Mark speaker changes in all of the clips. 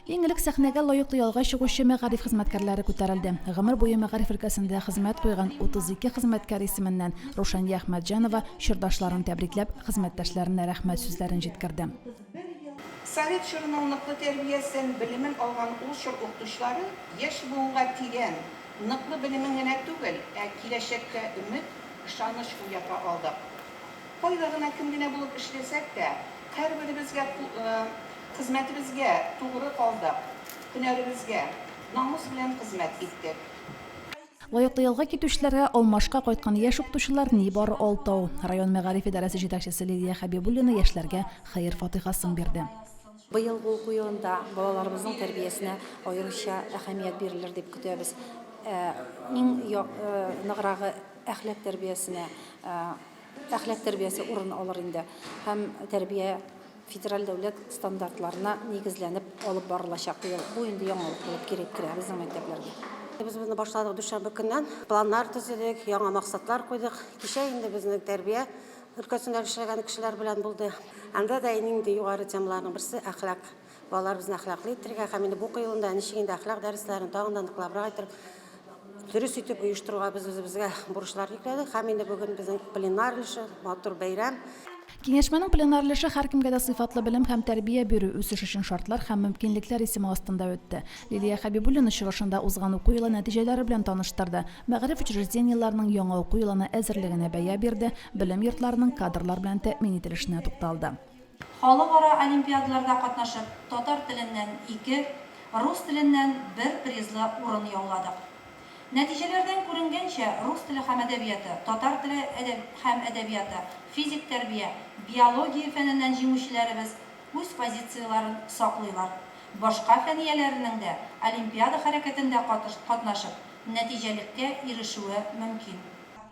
Speaker 1: Иң элек сәхнәгә лаеклы ялга чыгучы мәгариф хезмәткәрләре күтәрелде. Гомер буе мәгариф өлкәсендә хезмәт куйган 32 хезмәткәр исеменнән Рушания Әхмәтҗанова чордашларын тәбрикләп, хезмәттәшләренә рәхмәт сүзләрен җиткерде.
Speaker 2: Совет чорының ныклы тәрбиясен, белемен алган ул чор укытучылары яшь буынга тирән, ныклы белемен генә түгел, ә киләчәккә өмет, ышаныч уята алдык. Кайда гына, кем генә булып эшләсәк тә, һәрберебезгә Хезмәтебезгә тугры калдык. Һөнәребезгә намус белән хезмәт иттек. Лаеклы
Speaker 1: ялга китүчеләргә алмашка кайткан яшь укытучылар нибары алты ау. Район мәгариф идарәсе җитәкчесе Лилия Хәбибуллина яшьләргә хәер-фатыйхасын бирде. Быел бу уку
Speaker 3: елында балаларыбызның тәрбиясенә аеруча әһәмият бирелер дип көтәбез. Иң ныграгы әхлак тәрбиясенә, әхлак тәрбиясе урын алыр инде һәм тәрбия. федераль дәүләт стандартларына нигезләнеп алып барылачак быел. Бу инде яңалык булып кире керә безнең мәктәпләргә. Без моны башладык дүшәмбе көннән. Планнар төзедек, яңа максатлар куйдык. Кичә инде безнең тәрбия өлкәсендә эшләгән кешеләр белән булды. Анда да иң инде югары темаларның берсе әхлак. Балаларыбызны әхлаклы итәргә һәм инде бу уку елында ничек инде әхлак дәресләрен тагын да ныклабрак итеп дөрес итеп оештыруга без үзебезгә бурычлар йөкләдек һәм инде бүген безнең пленар өлеше, матур бәйрәм. Киңәшмәнең
Speaker 1: пленар өлеше һәркемгә дә сыйфатлы белем һәм тәрбия бирү, үсеш өчен шартлар һәм мөмкинлекләр исеме астында үтте. Лилия Хәбибуллина чыгышында узган уку елы нәтиҗәләре белән таныштырды, мәгариф учреждениеләренең яңа уку елына әзерлегенә бәя бирде, белем йортларының кадрлар белән тәэмин ителешенә тукталды. Халыкара
Speaker 4: олимпиадаларда катнашып, татар теленнән ике, рус теленнән бер призлы урын яуладык. Нәтиҗәләрдән күренгәнчә, рус теле һәм әдәбияты, татар теле һәм әдәбияты, физик тәрбия, биология фәненнән җиңүчеләребез үз позицияләрен саклыйлар. Башка фән ияләренең дә олимпиада хәрәкәтендә катнашып, нәтиҗәлеккә ирешүе мөмкин.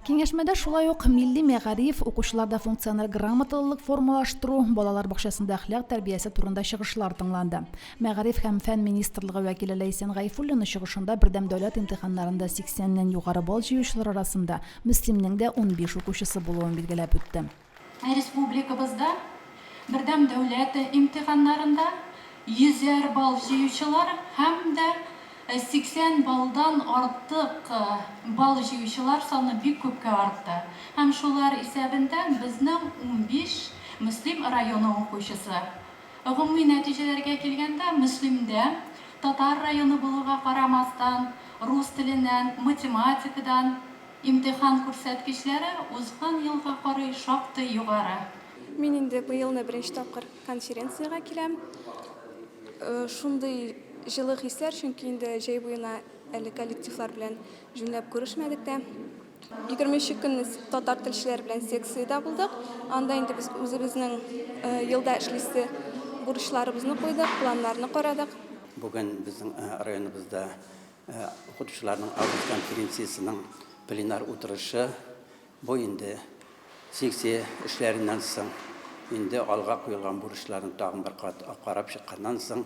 Speaker 4: Киңәшмәдә
Speaker 1: шулай ук милли мәгариф, укучыларда функциональ грамоталылык формалаштыру, балалар бакчасында әхлак тәрбиясе турында чыгышлар тыңланды. Мәгариф һәм фән министрлыгы вәкиле Ләйсән Гайфуллина чыгышында бердәм дәүләт имтиханнарында 80 нән югары балл җыючылар арасында Мөслимнең дә унбиш укучысы булуын билгеләп үтте. Республикабызда
Speaker 5: Бердәм дәүләт имтиханнарында йөзәр балл җыючылар һәм дә 80 баллдан артык балл җыючылар саны бик күпкә артты. Һәм шулар исәбендә безнең унбиш Мөслим районы укучысы. Гомуми нәтиҗәләргә килгәндә, Мөслимдә, татар районы булуга карамастан, рус теленнән, математикадан, Имтихан күрсәткечләре узган елга карый шактый югары. Мин инде
Speaker 6: быелны беренче тапкыр конференциягә киләм. Шундый җылы хисләр, чөнки инде җәй буена әле коллективлар белән җүнләп күрешмәдек тә. Егерме өче көн без татар телчеләре белән секциядә булдык. Анда инде без үзебезнең елда эшлисе бурычларыбызны куйдык, планнарны карадык. Бүген
Speaker 7: безнең районыбызда Ә укытучыларның август конференциясенең пленар утырышы бу инде секция эшләреннән соң, инде алга куелган бурычларын тагын бер кат карап чыкканнан соң,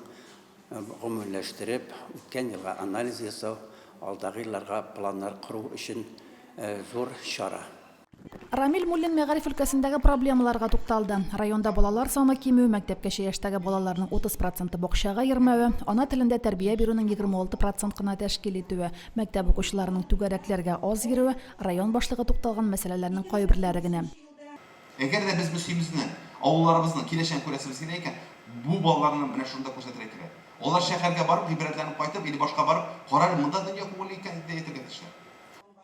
Speaker 7: гомумиләштереп, үткән елга анализ ясау, алдагы елларга планнар кору өчен зур чара. Рамил
Speaker 1: Муллин мәгариф өлкәсендәге проблемаларга тукталды. Районда балалар саны кимү, мәктәпкәчә яшьтәге балаларның 30 проценты бакчага йөрмәве, ана телендә тәрбия бирүнең 26 процент кына тәшкил итүе, мәктәп укучыларының түгәрәкләргә аз йөрүе, район башлыгы тукталган мәсьәләләрнең кайберләре генә. Әгәр дә
Speaker 8: без Мөслимезне, авылларыбызның киләчәген күрәсебез килә икән, бу балаларны менә шунда күрсәтергә кирәк. Алар шәһәргә барып, гыйбрәтләнеп кайтып или башка барып, кара әле, монда дөнья күңелле икән, дип тә әйтергә тиешләр.